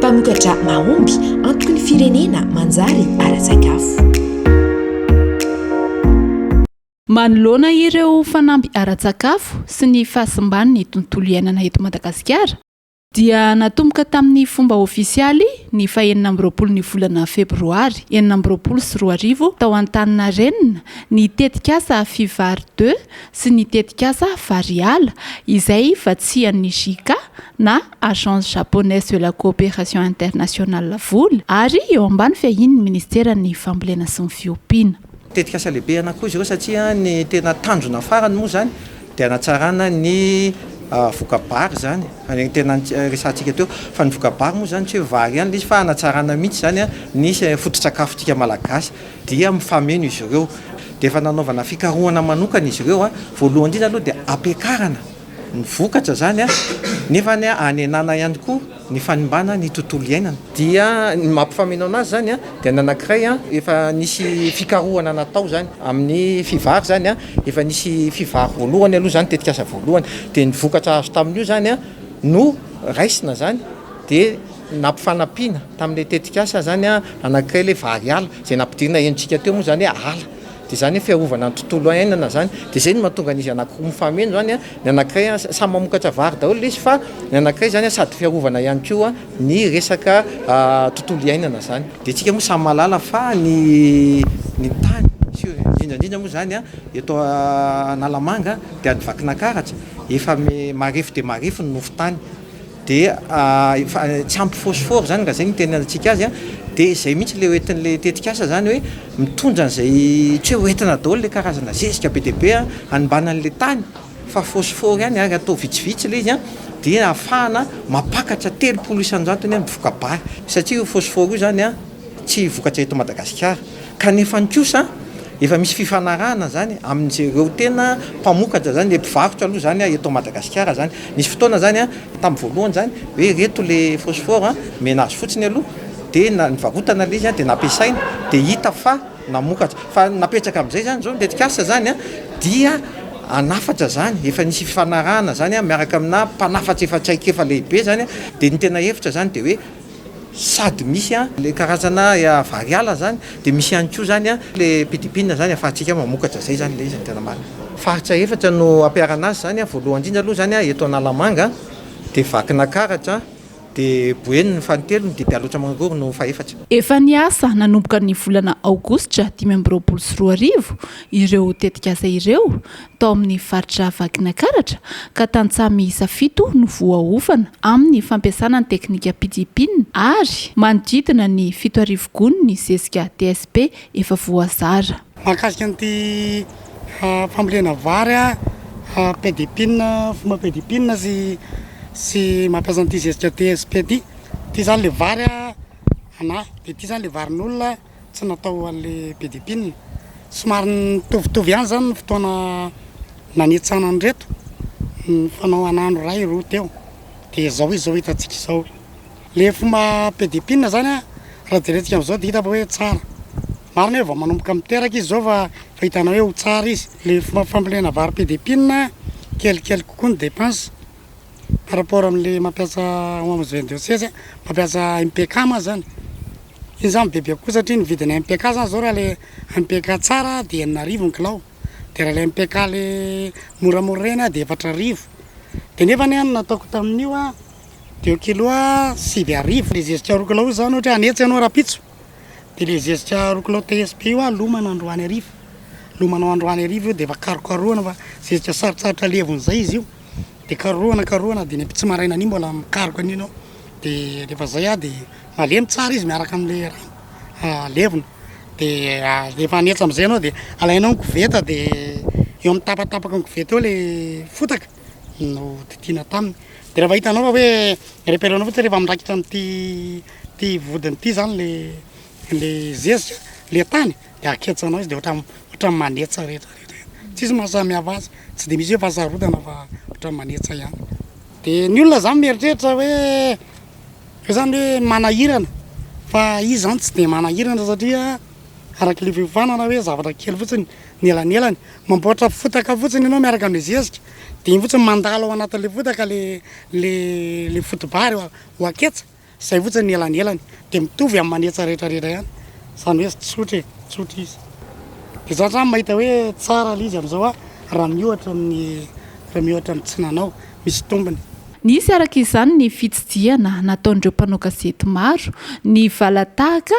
Mpamokatra mahomby antoky ny firenena manjary ara-tsakafo. Manoloana ireo fanamby ara-tsakafo sy ny fahasimban'ny tontolo iainana eto Madagasikara dia natomboka tamin'ny fomba ofisialy ny fahenina amby roapolo ny volana febroary enina amby roapolo sy roa arivo tao Antaninarenina ny tetikasa Fivary deux sy ny tetikasa Fariala izay vatsian'ny JICA na Agence Japonaise de la Coopération Internationale vola ary eo ambany fiahian'ny Ministeran'ny Fambolena sy ny Fiompiana. Tetikasa lehibe anakiroa izy ireo satria ny tena tanjona farany moa izany dia hanatsarana ny voka-bary izany, ireny tena resahantsika teo fa ny voka-bary moa izany tsy hoe vary ihany ilay izy fa hanatsarana mihitsy izany ny foto-tsakafontsika Malagasy. dia mifameno izy ireo dia efa nanaovana fikarohana manokana izy ireo voalohany indrindra aloha dia hampiakarana ny vokatra izany nefa ny hanenana ihany koa ny fanimbana ny tontolo iainana dia ny maha mpifameno anazy izany dia ny anankiray efa nisy fikarohana natao izany amin'ny fivary izany efa nisy fivary voalohany aloha izany tetikasa voalohany dia ny vokatra azo tamin'io izany no raisina izany dia Nampifanampiana tamin'ilay tetikasa izany anankiray ilay Vary-ala, izay nampidirina henontsika teo moa izany hoe ala, dia izany hoe fiarovana ny tontolo iainana izany, dia izay no mahatonga an'izy anankiroa mifameno izany, ny anankiray samy mamokatra vary daholo ilay izy fa ny anankiray izany sady fiarovana ihany koa ny resaka tontolo iainana izany. Dia isika moa samy mahalala fa ny tany sy indrindra indrindra moa izany eto Analamanga dia any Vakinakaratra efa marefo dia marefo ny nofon-tany, dia tsy ampy phosphore izany nga izay no itenenantsika azy an, dia izay mihitsy ilay hoentin'ilay tetikasa izany hoe mitondra an'izay tsy hoe hoentina daholo ilay karazana zezika be dia be an, hanimbana an'ilay tany fa phosphore ihany ary atao vitsivitsy ilay izy an, dia ahafahana mampakatra telopolo isan-jatony an mivoka-bary satria io phosphore io izany an tsy vokatra eto Madagasikara. Kanefany kosa efa misy fifanarahana zany amin'izereo tena mpamokatra zany, le mpivarotra aloha zany eto Madagasikara zany. Nisy fotoana zany tam voalohany zany hoe reto le phosphore omena azy fotsiny aloha de na nivarotana le izy de nampiasaina de hita fa namokatra. Fa ny napetraka amizay zany zao ny tetikasa zany dia hanafatra zany, efa nisy fifanarahana zany miaraka amina mpanafatra efa traikefa lehibe zany de ny tena hevitra zany de hoe Sady misy an le karazana variala zany de misy ihany koa zany an le pidipina zany afahantsika mamokatra zay zany le izy no tena marina. Faritra efatra no ampiharana azy zany an, voalohany indrindra aloha zany an eto Analamanga de Vakinakaratra de Boeny no fahatelony de Bealotra Mangoro no fahefatra. Efa niasa nanomboka ny volana aogositra dimy amby roapolo sy roa arivo ireo tetikasa ireo tao amin'ny faritra Vakinankaratra ka tantsaha miisa fito no voaofana amin'ny fampiasana ny teknika pidgin ary manodidina ny fito arivo gony ny zezika TSP efa voazara. Mahakasika an'ity fambolena vary pdgin, fomba pdgin sy sy mampiasa an'ity zezika TSP ity. Ity izany ilay vary anà, dia ity izany ilay varin'olona. tsy natao ho an'le be dia mpinona. Somary nitovitovy ihany izany ny fotoana nanitsana an'ireto, nifanao an'andro iray roa teo, dia izao izy izao hitantsika izao. Le fomba be dia mpinona izany an, raha jerentsika amin'izao dia hita fa hoe tsara. Marina hoe vao manomboka miteraka izy izao fa efa hitanao hoe ho tsara izy. Le fomba fambolena vary be dia mpinona, kelikely kokoa ny dépense par rapport amin'le mampiasa homs vendeuse, mampiasa MPK moa izany. Iny zany be be kokoa satria ny vidin'ny MPK zany zao raha le MPK tsara de enina arivo ny kilao de raha le MPK le moramora reny a de efatra arivo de nefany a ny nataoko tamin'io a deux kilos a sivy arivo le zezika roa kilao io zany ohatra hoe hanetsa ianao rahampitso de le zezika roa kilao TSP io a lomana androany hariva lomanao androany hariva io de efa karokarohana fa zezika sarotsarotra levon'izay izy io. de karohana karohana de ny am-pitsy maraina an'iny mbola mikaroka an'iny ao de rehefa zay ah de malemy tsara izy miaraka amle rano levona de rehefa hanetsa amizay ianao de alainao ny koveta de eo amin'ny tapatapaka ny koveta eo le fotaka no didina taminy de rehefa hitanao fa hoe repère anao fotsiny rehefa mirakitra am'ty ty vodiny ty zany le le zezika le tany de aketsana izy de ohatran ohatran manetsa rehetra rehetra iny tsisy maha samy hafa azy tsy de misy hoe fahasarotana fa ohatran manetsa ihany de ny olona zany mieritreritra hoe hoe zany hoe manahirana fa izy zany tsy de manahirana satria araky le fiofanana hoe zavatra kely fotsiny ny elanelany mamboatra fotaka fotsiny enao miaraka amy zezika de iny fotsiny mandalo ao anatinle fotaka le le le foto-bary ho aketsa. Izay fotsiny ny elanelany dia mitovy amin'ny manetsa rehetra rehetra ihany izany hoe tsotra e, tsotra izy. Dia zany zany mahita hoe tsara ilay izy amin'izao aho raha miohatra amin'ny raha miohatra amin'ny tsy nanao, misy tombony. Nisy araka izany ny fitsidihana nataon'ireo mpanao gazety maro ny valan-tahaka